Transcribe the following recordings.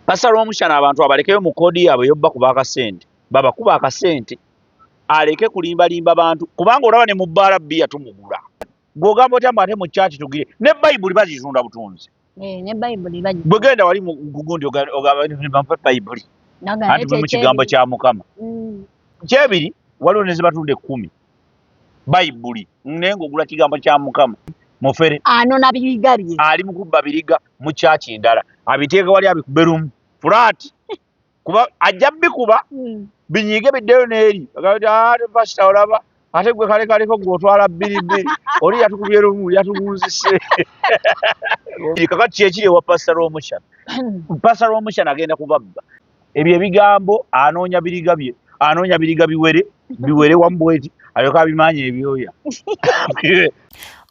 Pastor Rwomushana abantu abalekeyo mu kodi yabwe yobba kuba akasente. Baba kuba akasente. Aleke kulimba limba bantu kubanga olaba ne mu bbala bbiya tumugula. Gwogamba otya mbate mu church tugire ne Bayibuli bazizunda butunzi. Eh ne Bayibuli baji. Bwegenda wali mu gugundi ogaba ne bampa Bayibuli. Naga ne kigambo kya Mukama. Mm. Kyebiri waliwo ne zibatunda ekkumi. bayibuli naye ng'ogula kigambo kya mukama mufere anona biriga bye ali mu kubba biriga mu kyaki endala abiteeka wali abikube lumu fulaati kuba ajja bikuba hmm. binyiige biddeyo n'eri agaatevaasita ah, olaba ate gwe kale kaliko gwe otwala bbiribbiri oli yatukubye lumu yatugunzise kakati kyekiri ewa pasita rwomushana hmm. pasita rwomushana agenda kubabba ebyo ebigambo anoonya biriga bye anoonya biriga biwere biwere wamu bweti alyoka abimaanya ebyoya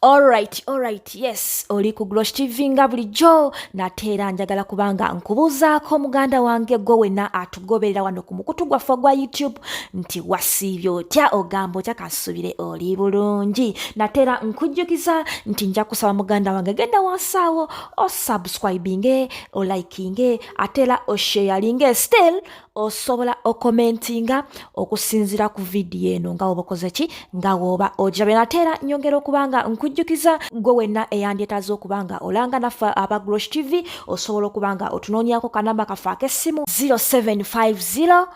Alright, alright, yes, oli ku Glosh TV nga bulijjo nate era njagala kubanga nkubuuzaako muganda wange gwe wena atugoberera wano ku mukutu gwaffe ogwa YouTube nti wasiibye otya ogamba otya kansubire oli bulungi nate era nkujjukiza nti nja kusaba muganda wange genda wansaawo osubscribinge olikinge ate era osheyalinga still osobola okomentinga okusinzira ku vidiyo eno nga woba okoze ki nga woba ogirabye nate era nyongera okuba nga nkujjukiza gwe wenna eyandyetaaza okuba nga olanga naffe aba grosh tv osobola okuba nga otunoonyako kanamba kaffe ak'essimu 0750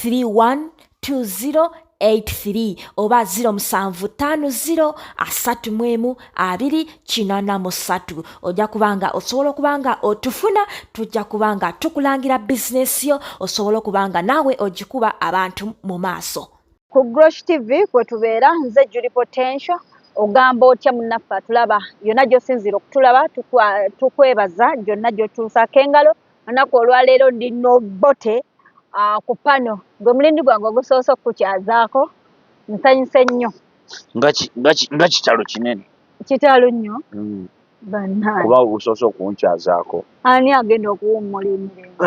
31 2083 oba 0750 ojja kubanga osobola okuba nga otufuna tujja kuba nga tukulangira bizinesi yo osobola okuba nga naawe ogikuba abantu mu maaso ku grosh tv kwe tubeera nze juli potential ogamba otya munnaffe atulaba yonna gy'osinziira okutulaba tukwebaza gyonna gy'otuusaako engalo anaku olwaleero ndi nobote ah, ku pano gwe mulindi gwange ogusoose okukukyazaako nsanyuse nnyo nga kitalo kinene kitalo nnyo mm. bannange kuba ogusoose okunkyazaako ani agenda okuwummula emirembe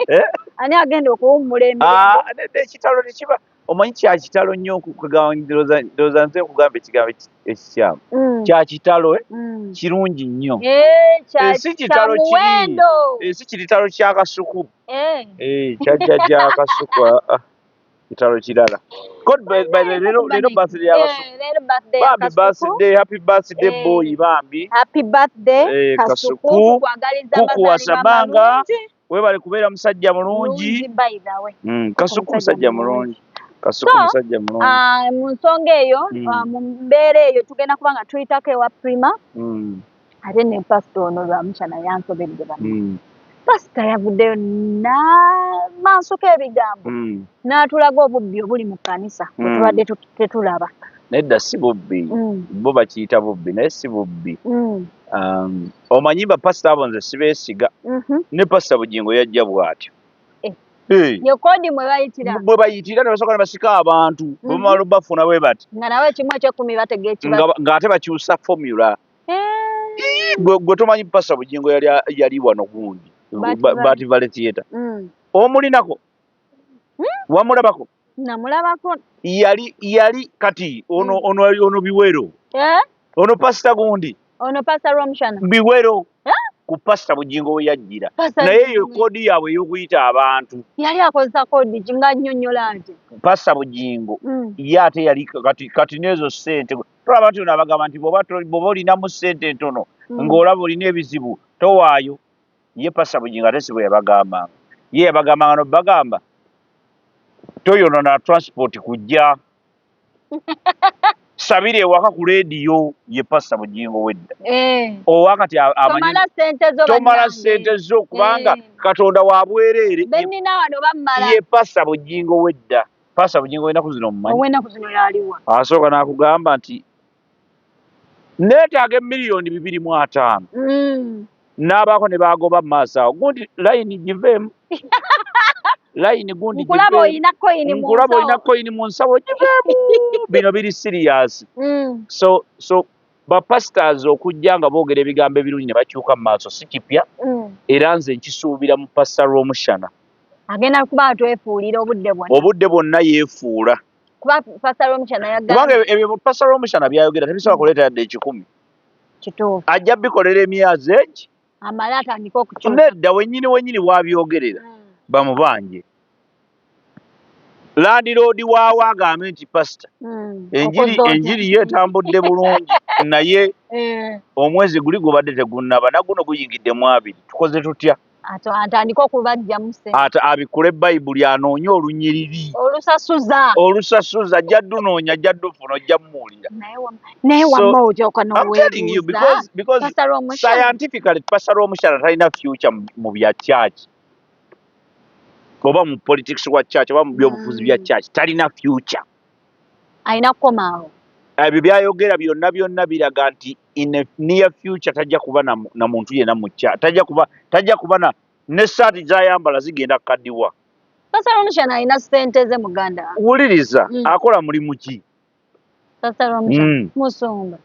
eh? ani agenda okuwummula emirembe ah, ekitalo tekiba omanyi kyakitalo nnyo ndoza nze nkugamba ekigambo ekikyamu mm. kyakitalo eh? mm. kirungi nnyo eh, esi kitalo kiri esi kiritalo kyakasuku eh. kyajjajja akasuku ah, ah. kitalo kirala lero birthday yabasubambi birthday happy birthday boy bambi kasuku kukuwasabanga webale kubeera musajja mulungi mm, kasuku musajja mulungi kasuku musajja mulungi ah, mu nsonga eyo mm. ah, mu mbeera eyo tugenda kuba nga tuyitako ewa prima mm. ate ne pasita ono lwamukyana yansobedde ba pasita yavuddeyo namansoko ebigambo n'atulaga obubbi obuli mu kkanisa wetubadde tuti tetulaba nedda si bubbi mm. bo bakiyita bubbi naye si bubbi mm. um, omanyi bapasita abo nze sibeesiga mhm. ne pasita bugingo yajja bw'atyo bwe bayitira ne basooka ne basika abantu mhm. bwebamala bafuna bwe bati ng'ate bakyusa fomula eh. gwe tomanyi pasita bugingo yali wano gundi bativale theatre mm. omulinako hmm? wamulabako namulabako yali yali kati ono mm. ono ono biwero eh? ono pasita gundi ono pasita romshana biwero eh? ku pasita bujingo we yajjira naye eyo kodi yaabwe ey'okuyita abantu yali akozesa kodi nga nnyonnyola nti pasita bujingo mm. ye ate yali kati kati n'ezo ssente tolaba nti ono abagamba nti bwoba olinamu ssente ntono mm. ng'olaba olina ebizibu towaayo ye pasa bugingo ate sibo yabagambanga ye yabagambanga nobagamba toyonona transport kujja sabira ewaka ku lediyo ye pasa bugingo wedda eh. owakati tomala sente zo kubanga eh. katonda wabwereere ye pasa bugingo wedda pasa bugingo wenaku zino mumanyi asooka nakugamba nti neetaaga emiliyoni bibiri mu ataano mm. n'abaako ne baagoba mu maaso awo gundi layini giveemu layini gundi nkulaba olina koyini mu nsawo giveemu bino biri siriyasi mm. so so bapasitors okujja nga boogera ebigambo ebirungi ne bakyuka mu maaso si kipya mm. era nze nkisuubira mu pasita rwomushana agenda kuba atwefuulira obudde bwonna obudde bwonna yeefuula kubanga ebyo pasita romushana byayogera tebisobola mm. kuleeta yadde ekikumi ajja bikolera emyazi egi nedda wenyini wenyini wabyogerera mm. bamubanje landiroodi waawo agambe nti pasita mm. enjiri enjiri ye etambudde bulungi naye eh. omwezi guli gubadde tegunnaba naguno guyingidde mu abiri tukoze tutya atandike okubajjamu ate abikule bayibuli anoonye olunyiriri olusasuza olusasuza ajja dunoonya ajja dufuna ojja mumuwulira naye wamma ojoka nowebuuzascientifically pastor omukyala talina future mu bya church oba mu politics wa church oba mu byobufuzi bya mm. church talina future alina kukomaawo ebyo byayogera byonna byonna biraga nti in a near future tajja kuba na, na muntu yena mucha tajja kuba tajja kuba na ne saati zayambala zigenda kadiwa sasa romisha na ina sente ze muganda wuliriza mm. akola mulimu ki sasa romisha mm. musumba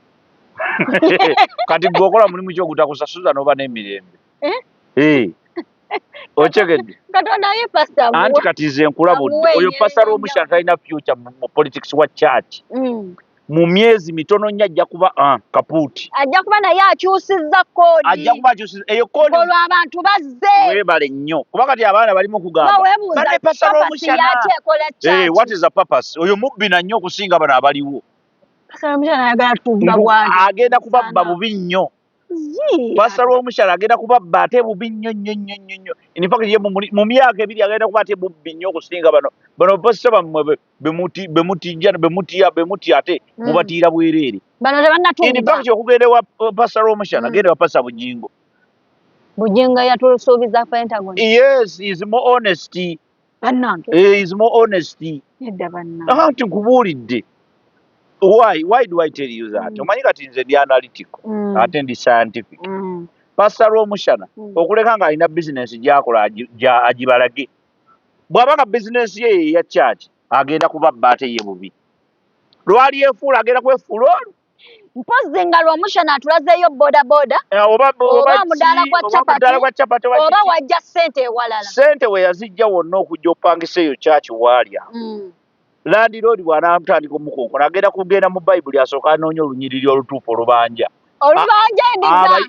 kati gwokola mulimu ki ogutakusasuza noba nemirembe eh? Eh. okyegedde anti kati nze nkulabudde oyo pasara omushana talina future mu politics wa church mm. mu myezi mitono nnyo ajja kuba ah, kapuuti ajja kuba naye akyusizza koodi ajja kuba akyusizza eyo koodi olwo abantu bazze weebale nnyo kuba kati abaana balimu kugambabadde pasara omushana eh, what is the purpose oyo mubbi na nnyo okusinga bano abaliwo agenda kubabba bubi nnyo pastor w'omukyala agenda kubabba ate bubi nnyo nnyo nnyo nnyo nnyo infact ye mu myaka ebiri agenda kuba ate bubbi nnyo okusinga bano bano pasita bammwe bemutija bemutya bemutya ate hmm. mubatiira bwereere infact okugenda wa uh, pasita w'omukyala hmm. agenda wa pasita bujingo bujingo yatusuubiza pentagon yes is more honesty bannange eh, is more honesty nedda bannange aha nti nkubuulidde why why do i tell you that Mm. omanyi kati nze ndi analytical Mm. ate ndi scientific Mm. pasita lwomushana Mm. okuleka ng'alina bizinensi gyakola agi- gya- agibalage bw'aba nga bizinensi ye yeya kyaki agenda kubabba ate ye bubi lwali efuula agenda kwefuula olwo mpozzi nga lwomushana atulazeeyo bodaboda eh, oba mudaala gwa chapati oba wajja sente ewalala sente weyazijja wonna okujja opangisa eyo kyaki waalya mm. landiroodi bwanatandika omukonkona agenda kugenda mu bayibuli asooka anoonya olunyiriri olutuufu olubanja olubanja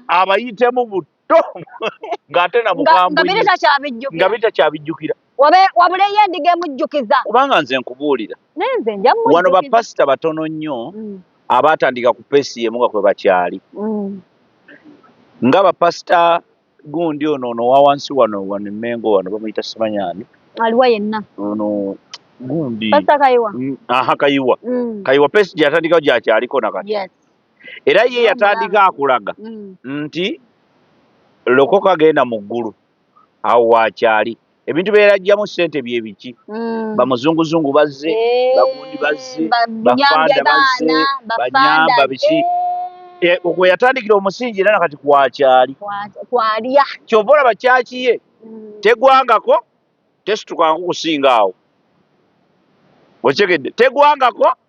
abayitemu buti ng'ate na bukambwenga bitakyabijjukira wabuleyo endiga emujjukiza kubanga nze nkubuulira wano bapasita batono nnyo mm. abaatandika ku peesi yemu nga kwe bakyali mm. nga bapasita gundi ono ono wawansi wano wano emengo wano bamuyita simanyani aliwa yenna ono gundi kayiwa mm, aha kayiwa kayiwa peesi gyeyatandikawo gyakyaliko nakati era ye yatandika akulaga mm. nti lokoka genda mu ggulu awo waakyali ebintu bye yalajjamu ssente bye biki mm. bamuzunguzungu bazze eh, bagundi bazze bafanda bazze banyamba biki eh. eh, kwe yatandikira omusingi era nakati kwakyali kyova olaba kyaki ye mm. tegwangako tesitukanku kusinga awo okitegedde tegwangako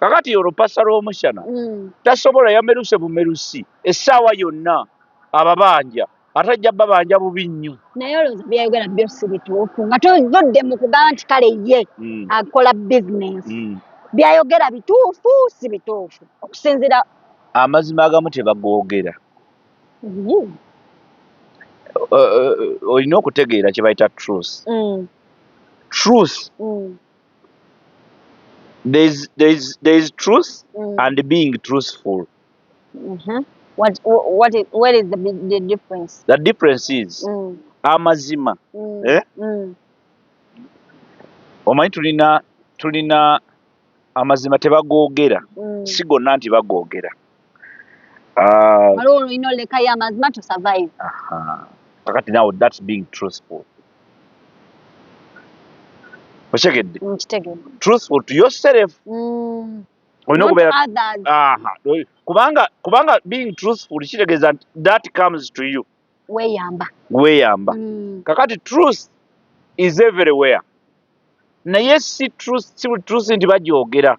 kakati olwo pasa lwomushana mm. tasobola yameruse bumerusi essaawa yonna ababanja ate ajja babanja bubi nnyo naye olowooza byayogera byo si bituufu nga tuvudde mu kugamba nti kale ye mm. akola bizinesi mm. byayogera bituufu si bituufu okusinzira amazima agamu tebagoogera mm-hmm. uh, uh, olina okutegeera kyebayita truth mm. truth mm. there's there's there's truth mm. and being truthful. Mm -hmm. What what is, what is the the difference? The difference is mm. amazima mm. eh mm. omanyi tulina tulina amazima tebagogera mm. sigonna nti bagogera Ah. waliwo olina olekayo amazima to survive kakati nawe that being truthful okitegedde mm, truthful to yourself mm. olina okubeera kubanga kubanga being truthful kitegeeza that comes to you weyamba weyamba mm. kakati truth is everywhere naye si truth si buli truth nti bagyogera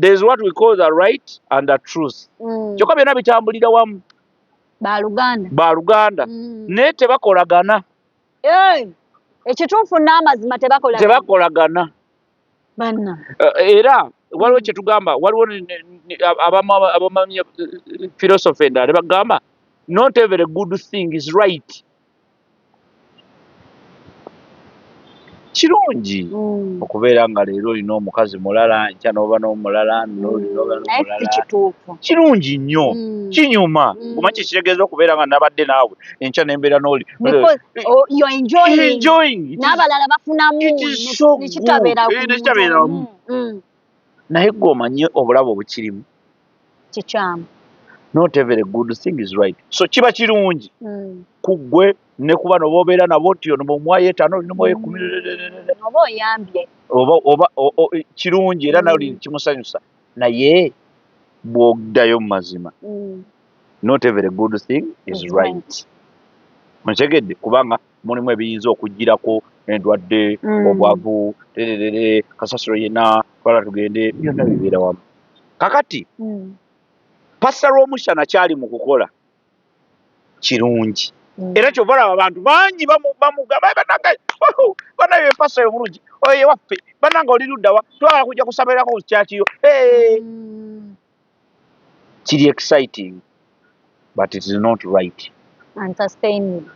there's what we call the right and the truth mm. kyokka byonna bitambulira wamu baluganda baluganda mm. naye tebakolagana ekituufu n'amazima tebakolagana banna eh, era waliwo kyetugamba waliwo abamanyi eh, eh, philosophy endala ne bagamba not every good thing is right kirungi mm. okubeera nga leero olina omukazi mulala nkya noba nomulala mm. kirungi nnyo mm. kinyuma kuma kyekitegeeza okubeera nga nabadde naawe enkya nembeera noli nabalala bafunamunekitaberamu eh, mm, mm. naye gwe omanye obulabe obukirimu kikyamu not every good thing is right so kiba kirungi mm. kugwe ne kuba noba obeera nabo nti ono mumwayo etaano oli nomwoyo ekumi mm. oba oyambye oba oba kirungi era nawe mm. kimusanyusa naye bwogdayo mu mazima mm. not every good thing is right ontegedde kubanga mulimu ebiyinza okugirako endwadde mm. obwavu tererere kasasiro yena twala tugende byonna bibeera wamu kakati mm. pasa lwomushana kyali mu kukola kirungi mm. era kyova laba abantu bangi bamugabanaye empasa yobulungi oye waffe bananga oli luddawa twala kujja kusabairako kukyakiyo kiri exciting but it is not right and sustainable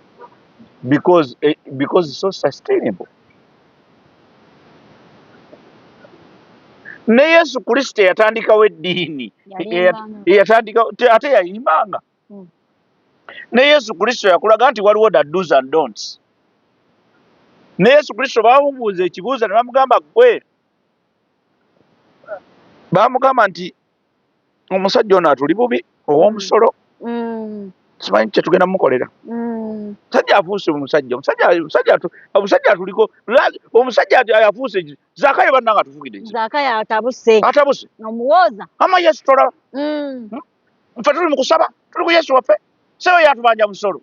because eh, because it's so sustainable ne yesu kristo eyatandikawo eddiini eyatandika ate yayimbanga hmm. ne yesu kristo yakulaga nti waliwo da dos and donts ne yesu kristo bawubuuza ekibuuza ne bamugamba gwe baamugamba nti omusajja ono atuli bubi ow'omusolo mm. simanyi kyetugenda mukolera mm. musajja afuuse omusajja omusajja atuliko omusajja ayafuuse zakayo banna nga tufugiddeatabuse ama yesu tolaba mm. hmm? nfe tuli mu kusaba tuli ku yesu waffe seyo yatubanja musolo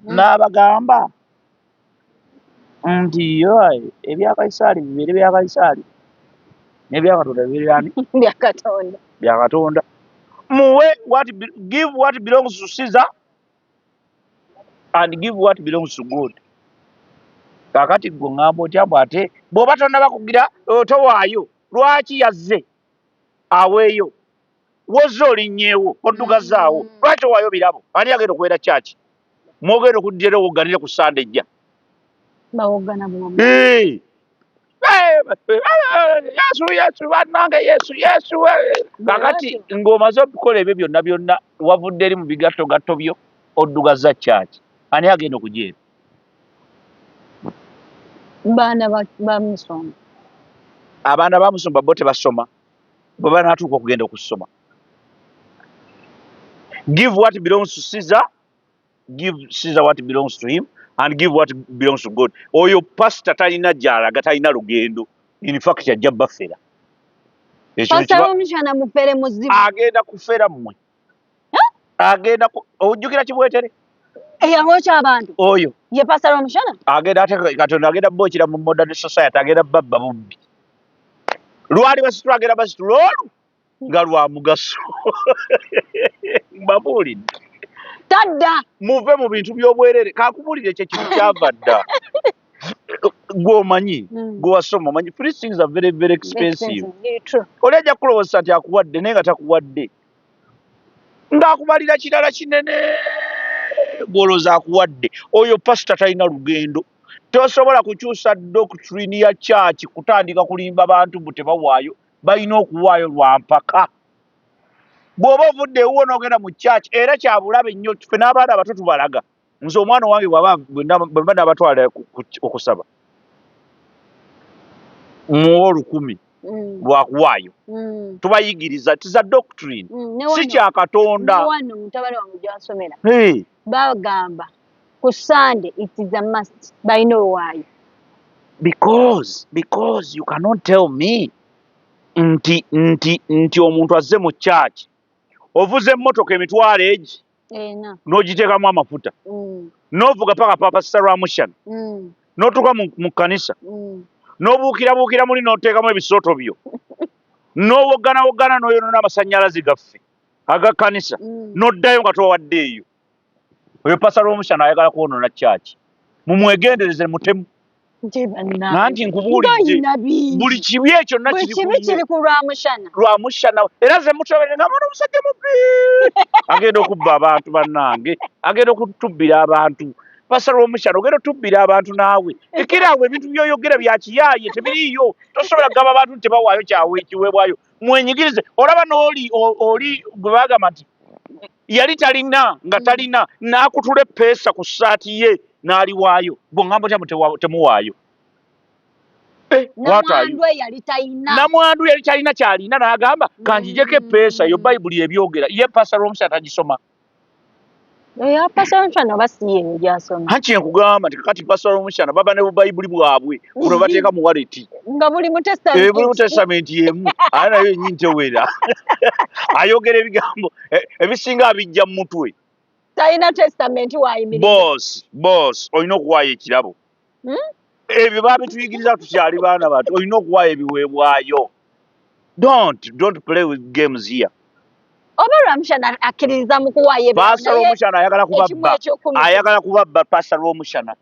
n'abagamba nti yoaye ebya kaisaali bibeere bya kaisaali nebya katonda bibeere byani bya katonda bya katonda muwe what give what belongs to caesar and give what belongs to god kakati gwe ngamba otya mbu ate bwoba tonna bakugira towaayo lwaki yazze aweeyo Wozze olinnyeewo, oddugazzaawo. Lwaki owaayo birabo? Ani agenda okubeera kyaki? Mwogenda okuddira era owogganire ku Ssande ejja. Bawoggana bulamu. Eee! Yesu, Yesu, bannange Yesu, Yesu. Kakati ng'omaze okukola ebyo byonna byonna, wavudde eri mu bigattogatto byo, oddugazza kyaki? Ani agenda okujeera? Baana ba musumba. Abaana ba musumba bo tebasoma. bwe banaatuuka okugenda okusoma give what belongs to caesar give caesar what belongs to him and give what belongs to god oyo pasita talina gyalaga talina lugendo infact ajja baffera agenda kufera mmwe agenda ojjukira kibwetere eyabokya abantu oyo ye pastor omushana agenda ate katonda agenda bokira mu modern society agenda babba bubbi lwali basitu agenda basitu lwolu nga lwa mugaso mbabuulidde tadda muve mu bintu by'obwerere kakubuulire ekyo ekintu kyava dda gwomanyi hmm. gwewasoma omanyi free things are very very expensive oli ajja kukulowozesa nti akuwadde naye nga takuwadde ng'akubalira kirala kinene gw'olowooza akuwadde oyo pasita talina lugendo tosobola kukyusa doctrine ya kyaki kutandika kulimba bantu mbu tebawaayo balina okuwaayo lwa mpaka bw'oba ovudde ewuwo n'ogenda mu kyaki era kyabulabe nnyo fe n'abaana abato tubalaga nze omwana owange bwaba bwemba nabatwala okusaba muwa olukumi mm. lwakuwaayo mm. tubayigiriza tiza doctrine mm, si kya katonda bagamba ku sunday it is a must by no why because because you cannot tell me nti nti nti omuntu azze mu church ovuze emmotoka emitwalo egi n'ogiteekamu amafuta mm. n'ovuga paka papa saramushana mm. n'otuuka mu kkanisa mm. n'obuukirabuukira muli n'oteekamu ebisooto byo n'owogganawogana n'oyonoona amasannyalaze gaffe aga kkanisa n'oddayo nga towadde eyo oyo pasa rwomushana ayagala kwonoona kyaki mumwegendereze mutemu nanti nkubuulidde buli kibi ekyo nakirlwamushana era zemutobere nga mwana omusajja mubbi agenda okubba abantu bannange agenda okutubbira abantu pasa lwomushana ogenda otubbira abantu naawe ekera awo ebintu byoyogera byakiyaaye tebiriiyo tosobola kugamba abantu nti tebawaayo kyawe ekiweebwayo mwenyigirize olaba nooli oli gwe bagamba nti yali talina nga talina n'akutula eppeesa ku ssaati ye n'aliwaayo gwe ŋŋamba otya temuwaayo eh, namwandu yali talina kyalina n'agamba kanjijeko eppeesa yo bayibuli ebyogera ye pastor omusi atagisoma haki enkugamba nti kakati pastor omusyana baba ne bubayibuli bwabwe kuno bateeka mu waleti nga buli mutestamenti eh, yemu aa nayo enyini tewera ayogera ebigambo e, ebisinga abijja mu mutwe talina testament wayimiriza boss boss olina okuwaayo ekirabo hmm? ebyo babituyigiriza tukyali baana bantu olina okuwaayo ebiweebwayo don't don't play with games here oba lwamushana akkiririza mu kuwaayo pasa lwomushana ayagala kubabba ayagala kubabba pasa lwomushana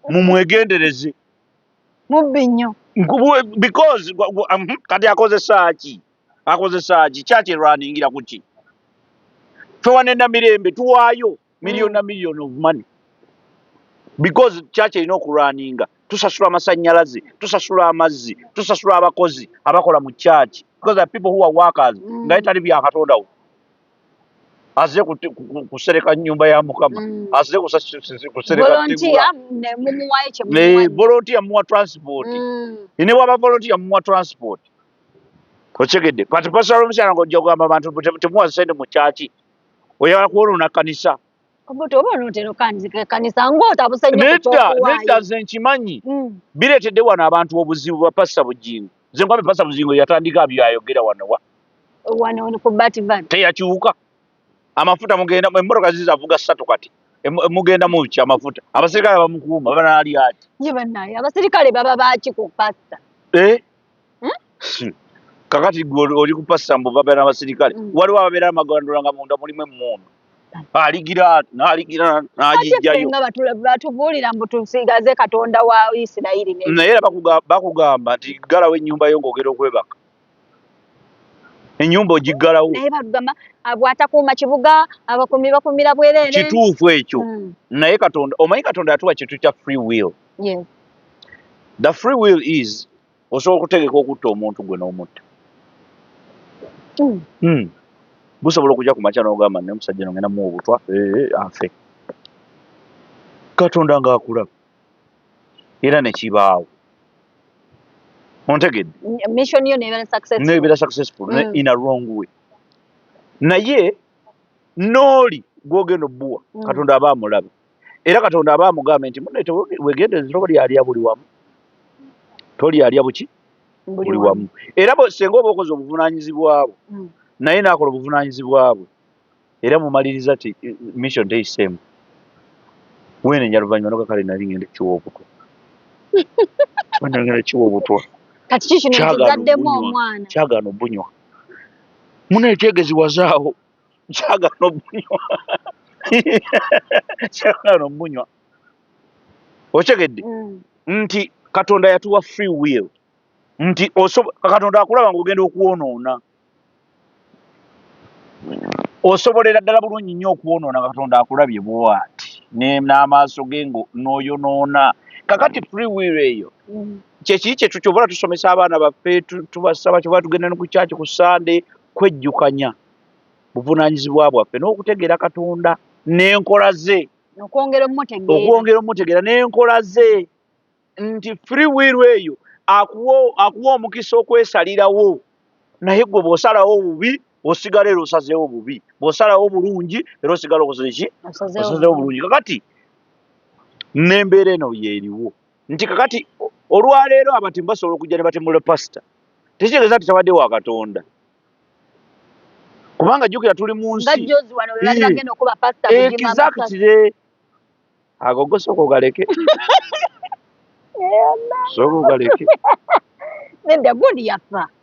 mumwegendereze mubbi nnyo because kati akozesaaki akozesaaki kyaki erwaningira kuki fewanenda mirembe tuwaayo million na million of money because kyaki erina okulwaninga tusasula amasanyalaze tusasula amazzi tusasula abakozi abakola mu kyaki because the people who are workers mm. naye tali byakatondawo aze kusereka nyumba ya mukama mm. aze kuserekavolontiya muwa transport mm. ne bwaba volontiya muwa transport okitegedde but pastor omukyala nga ojja kugamba abantu temuwa sente mu kyaki oyagala kuwonoona kanisa nedda nze nkimanyi mm. bireetedde wano abantu obuzibu bwa pastor bujingo nze nkwambe pastor bujingo yatandika byayogera wanowa teyakiwuka amafuta mugenda emmotoka zizavuga ssatu kati mugenda mukya amafuta abaserikale bamukuuma banaalyaati ye banaye abaserikale baba baaki ku pastor eh? hmm? kakati gwe oli ku pasita mbu babeera n'abasirikale hmm. waliwo ababeera amagandulo nga munda mulimu emmundu aligira naligira nagijjayo batubuulira mbu tusigaze katonda wa isirayiri naye era bakugamba nti galawo ennyumba yo ngaogera okwebaka enyumba ogiggalawo naye bagamba ah, bwatakuuma kibuga abakumi bakumira bwerere kituufu ekyo hmm. naye katonda omanyi katonda yatuwa kintu kya free will yes the free will is osobola okutegeka okutta omuntu gwe n'omutta hmm. hmm. busobola okujja ku makya n'ogamba naye omusajja no ngenda muwa obutwa eh, eh, afe katonda ng'akulaba era ne kibaawo ontegedde mission yo nebeera successful nebeera successful mm. in a wrong way naye nooli gwogenda obbuwa mm. katonda aba amulabe era katonda aba amugambe nti mune wegendereza toba lyalya buli wamu tolyalya buki buli wamu era senga oba okoze obuvunanyizibwabwo mm. naye nakola obuvunanyizibwabwe era mumaliriza ti mission teyiseemu wenenya luvanyuma noga kale nali ngenda kiwa obutwa ngenda kiwa obutwa kyagana obunywa munetegeziwazaawo kyagala obunywa kyagala obunywa okitegedde mm. nti katonda yatuwa free will nti katonda akulaba nga ogenda okwonoona osobolera ddala bulungi nnyo okwonoona katonda akulabye bwati n'amaaso ge ngo n'oyonoona kakati free will eyo mm. kyekii kyetu kyobala tusomesa abaana baffe tubasaba kyobala tugenda ne ku kyaki ku sande kwejjukanya buvunaanyizibwa bwaffe n'okutegeera Katonda n'enkola ze, okwongera omutegeera n'enkola ze nti free will eyo akuwa omukisa okwesalirawo naye gwe bw'osalawo obubi osigala era osazeewo obubi bw'osalawo obulungi era osigala okoze ki osazeewo obulungi kakati n'embeera eno yeeriwo nti kakati olwaleero abatemu basobola okujja ne batemula pasita tekitegeeza nti tabadde wa katonda kubanga jjukira tuli mu nsiekizakitire ago gosooka ogaleke sooka ogaleke nedda gundi yafa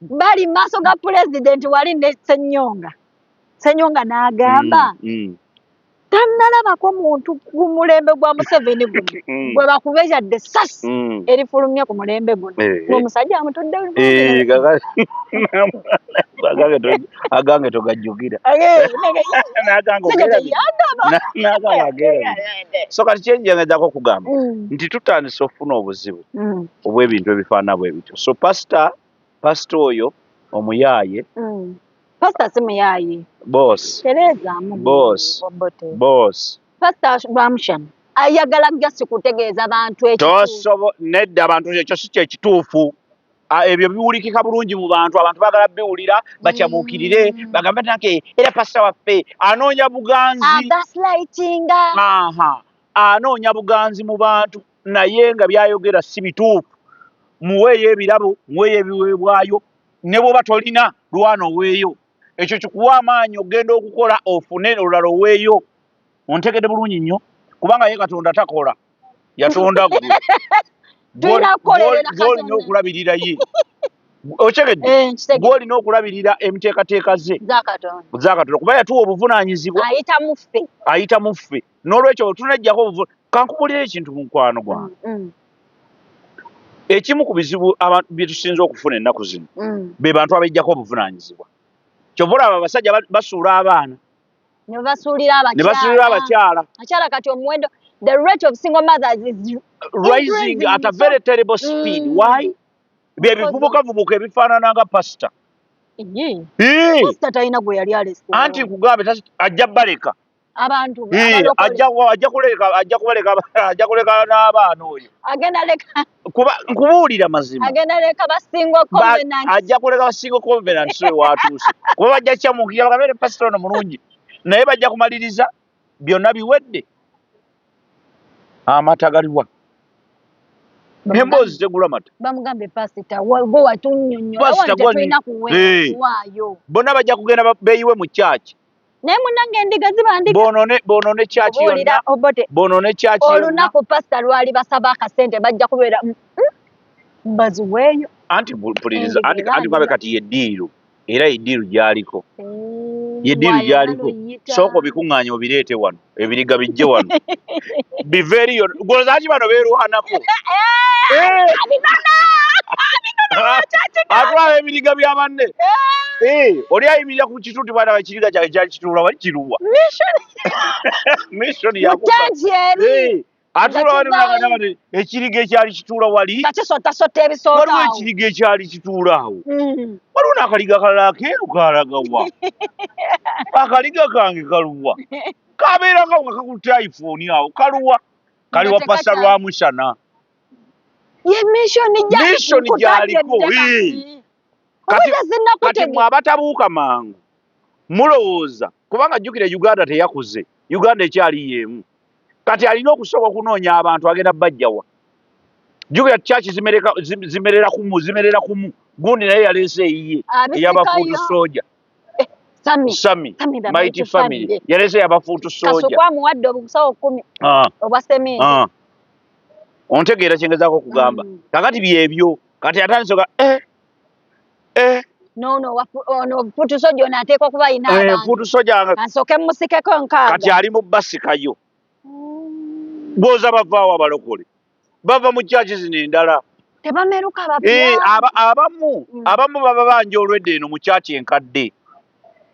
bali mu maaso ga pulezidenti wali ne senyonga senyonga n'agamba mm, mm. tannalabako muntu ku mulembe gwa museveni guno mm. gwe bakuba yadde sasi mm. erifulumye ku mulembe guno eh, eh. omusajja amutudde eh, agange togajjukira so kati kyenjengedako okugamba mm. nti tutandise okufuna obuzibu obw'ebintu ebifaana bwe bityo so pasita pasita oyo omuyaaye mm. pasita si muyaaye bosi tereezaamu bosi bosi pasita bamushana ayagala gasi kutegeeza bantu ekitosobo nedda abantu ekyo si kyekituufu ah, ebyo biwulikika bulungi mu bantu abantu bagala biwulira bakyabuukirire mm. bagambe nake era pasita waffe anoonya buganzi anoonya buganzi mu bantu naye nga byayogera si bituufu muweeyo ebirabo muweeyo ebiweebwayo ne bwoba tolina lwana oweeyo ekyo kikuwa amaanyi okugenda okukola ofune olulala oweeyo ontegede bulungi nnyo kubanga ye katonda takola yatonda gwe gwolina okulabirira ye okyegedde eh, gwolina okulabirira emiteekateeka ze zakatonda kuba yatuwa obuvunanyizibwa ayita muffe n'olwekyo tunejjako obuvune kankubulira ekintu mukwano gwange mm, mm. ekimu ku bizibu abantu byetusinza okufuna ennaku zino mm. be bantu abejjako obuvunaanyizibwa kyova olaba abasajja basuula abaana ne basuulira abakyala akyala kati omuwendo the rate of single mothers is rising at a very terrible speed mm. why bye bivubukavubuka ebifaanana nga pasita anti nkugambe ajja baleka abantu ajja kuleka n'abaana oyo kuba nkubuulira mazima ajja kuleka basingo covenant so watuuse kuba bajja kukyamuukira bakabeere pasita ono mulungi naye bajja kumaliriza byonna biwedde amata galiwa emboozi tegula mata bamugambye pasita gwe watunyonyola bona bajja kugenda beyiwe mu kyaki naye munange endiga ziba ndiga bonone bonone kyaki yonna obote bonone kyaki yonna olunaku pastor lwali basaba akasente bajja kubeera mm, mm, baziweeyo anti mpuliriza anti anti babe kati ye diiru era ye diiru gyaliko ye diiru gyaliko sooka obikuŋŋaanya obireete wano ebiriga bijje wano bive eriyo gozaki bano berwanako atwala ebiriga bya banne oli ayimirira ku kituti bana bakiriga kyali kyakituula wali kiruwa mission yakuba atulawaliwalagati ekiriga ekyali kituula wali kisotasotta ebisooka waliwo ekiriga ekyali kituula awo mm. waliwo n'akaliga kalala akeeru kalagawa akaliga kange kaluwa kabeera nga wakakutte iphone awo kaluwa kali wa pasa lwa musana ye mishoni gyaliko kati mwe abatabuuka mangu mulowooza kubanga jjukira uganda teyakuze uganda ekyali yeemu kati alina okusooka okunoonya abantu agenda bajjawa jjukira kyaki zimerera kumu zimerera kumu gundi naye yaleese eyiye eyabafuutu soja eh, sami mighty family yaleese yabafuutu sojakasukwamuwadde obusawo kumi ah. obwa sementi ah. ontegeera kyengezaako okugamba mm. kakati byebyo kati atandisoka eh. eh no no ono putu soja ono ateeka okuba alina eh, abantu putu soja ansooke musikeko nkaaga kati ali mu basikayo mm. gwoza bavaawo abalokole bava mu kyaki zino endala tebameruka eh, abamu mm. abamu baba banja olwedde eno mu kyaki enkadde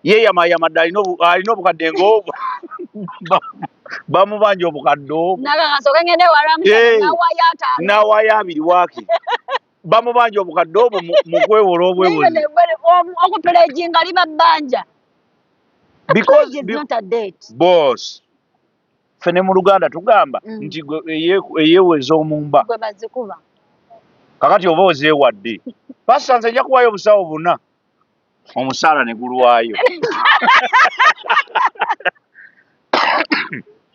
yeyamayama dde alina obukadde ngaobwo bamubanja obukadde obwo nawayo abiri waki bamubanja obukadde obwo mukwewola obwewolookupuleginga liba bbanja bcbos fe ne mu luganda tugamba mm. nti eyeweza omumba kakati oba ozeewadde pasita nze nja kuwayo obusawo buna omusaala ne gulwayo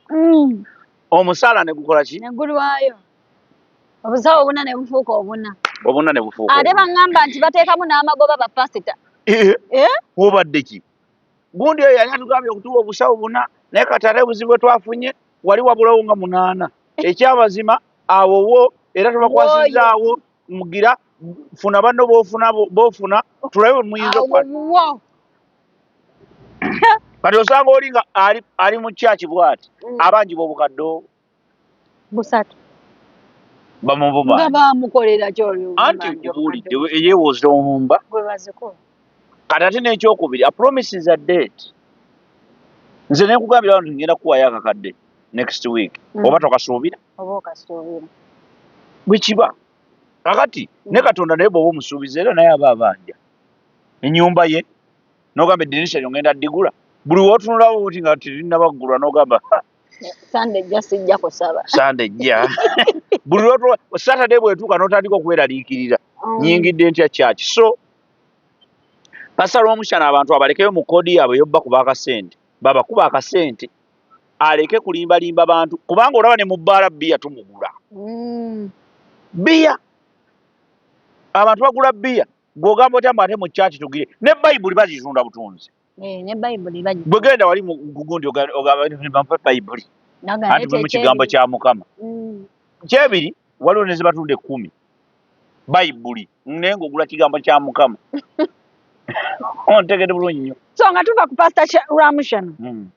mm. omusaala ne gukola ki ne gulwayo obusawo obuna ne bufuuka obuna obuna ne bufuuka ate baŋŋamba nti bateekamu n'amagoba bapasita eh? eh? wobadde ki gundi oyo yali atugambye okutuwa obusawo buna naye kati ate obuzibu bwe twafunye wali wabulawo nga munaana ekyamazima awowo era tubakwasizaawo mugira funa banno bofuna bofuna tulabe wemuyinza kati osanga oli nga ali mu kyaki bwati mm. abangi bobukadde busatu bamuvumaanti nkubuulidde eyewooza omumba kati ate n'ekyokubiri apromises a date nze nekugambira wano ngenda kuwayo akakadde next week mm. oba tokasuubira oba okasuubira. Bwe kiba. Kakati hmm. ne Katonda naye bw'oba omusuubiza era naye aba abanja ennyumba ye n'ogamba eddirisha lyo ngenda ddigula buli w'otunulawo oti nga terinabaggulwa n'ogamba sande ejja sijja kusaba sande ejja buli lw'otunula satade bw'etuuka n'otandika okweraliikirira hmm. nyingidde ntya kyaki so pasita lw'omukyana abantu abalekeyo mu koodi yaabwe yobba kuba akasente babakuba akasente aleke kulimba limba bantu kubanga olaba ne mubbaala bbiya tumugula mm. bbiya abantu bagula bbiya gwogamba otya mbu ate mu kyaki tugire ne bayibuli bazitunda butunzi eh, bwe genda wali mugundi ogamba bayibuli anti mulimu kigambo kya mukama mm. kyebiri waliwo nezibatunda ekkumi bayibuli naye ngaogula kigambo kya mukama ontegede bulungi nyo so nga tuva ku pasita ramushano hmm.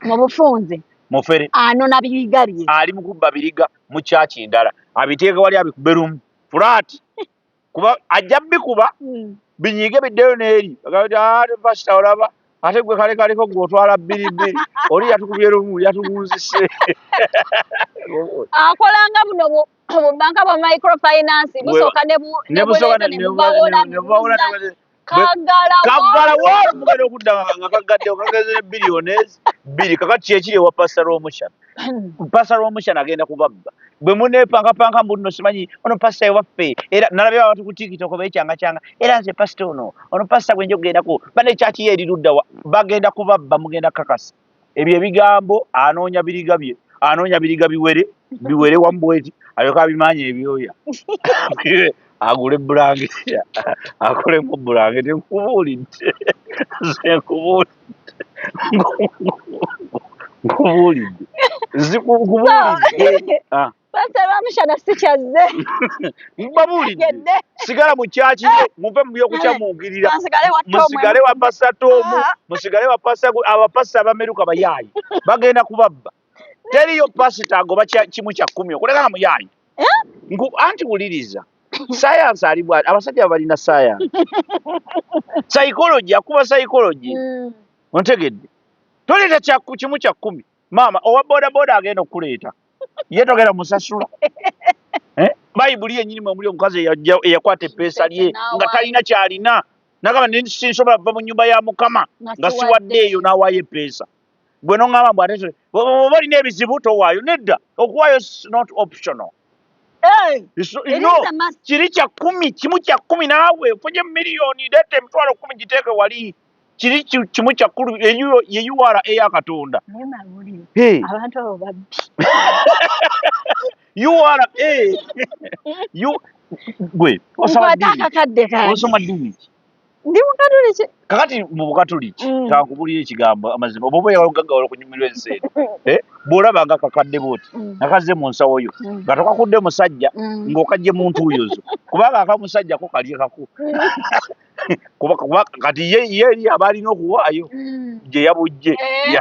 mu bufunze mufere anona biriga bye ali mukubba biriga mu kyaki endala abiteeka wali abikube lumu fulaati kuba ajja bikuba hmm. binyige biddeyo neeri pasita ah, olaba ate gwe kale kaliko gwe otwala bbiribbi oli yatukubye lumu yatugunzise akolanga buno obubanka bwa microfinance busooka nebubawolamukaggalaomugenda okudda nga kaggadde okageze ne biliyoni bbiri kakati kyekiri ewa pasta lwomukyana pasta lwomukyana agenda kubabba bwe munepankapanka mbuno simanyi ono pasta ewaffe era nalabye abantu ku tikitoko bekyangakyanga era nze pasta ono ono pasta gwenja okugendako bane kyaki yeeriruddawa bagenda kubabba mugenda kakasa ebyo ebigambo anoonya biriga bye anoonya biriga biwere biwere wamu bweti alyoka abimaanya ebyoya agule bulangiti akolemu bulangiti nkubuulidde nze nkubuulidde nkubuulidde nkubuulidde ah. Pastor Ramushana sikyazze. Mbabuulidde. Sigala mu kyaki eh. muve mu by'okucamuukirira. Musigale wa Pastor Tom, ah. musigale wa Pastor abapasita abameruka bayaayi. Bagenda kubabba. Teriyo pasita agoba kimu kya kkumi okuleka nga muyaayi. Eh? Ngu anti wuliriza. sayansi ali bwati abasajja balina sayansi psychology akuba psychology mm. ontegedde toleeta kimu kya kkumi maama owa bodaboda agenda okukuleeta ye togenda musasula eh? bayibuli yenyini mwemuli omukazi eyakwata epeesa lye nga talina kyalina nagamba nsinsobola kuva mu nyumba ya mukama nga siwadde eyo nawaayo epeesa gwe noŋgamba mbu ate oba olina ebizibu towaayo nedda okuwaayo not optional kiri kya kumi kimu kya kumi naawe ofunye miliyoni leeta emitwalo kumi giteeke wali kiri kimu kyakkulu ye ura eya katonda ura gwe osoma dini ki ndi mukatuliki kakati mu bukatuliki mm. kankubulira ekigambo amazima oba oba yawagagawala okunyumirwa ensi eno eh? bw'olaba nga kakadde bwoti mm. nga kazze mu nsawo yo mm. nga tokakudde musajja ng'okajje mu ntuuyo zo kubanga akamusajja ko kalye kako kuba kuba kati ye ye eri abalina okuwaayo mm. gye yabujje eh.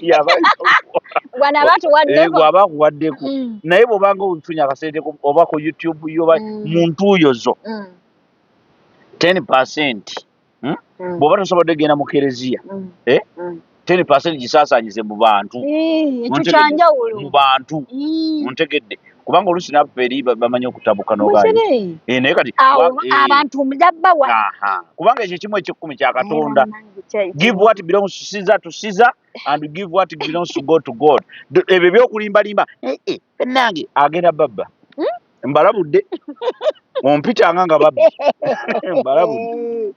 yabawaba akuwaddeko eh, mm. naye bwobanga ofunye akasente oba ku youtube yo mm. mu ntuuyo zo ten percent hmm? bwoba tosobodde genda mu kereziya eh? ten percent gisaasanyize mu bantu eh, ekikyanjawulo mu bantu mm. ontegedde kubanga oluusi naffe eri bamanyi okutabuka nogayi eh, naye kati eh. abantu mujabbawa kubanga ekyo kimu ekyekkumi kya katonda give what belongs to caesar to caesar and give what belongs to god to god ebyo ebyokulimbalimba nange agenda babba hmm? mbalabudde ompitanga nga babbi mbalabudde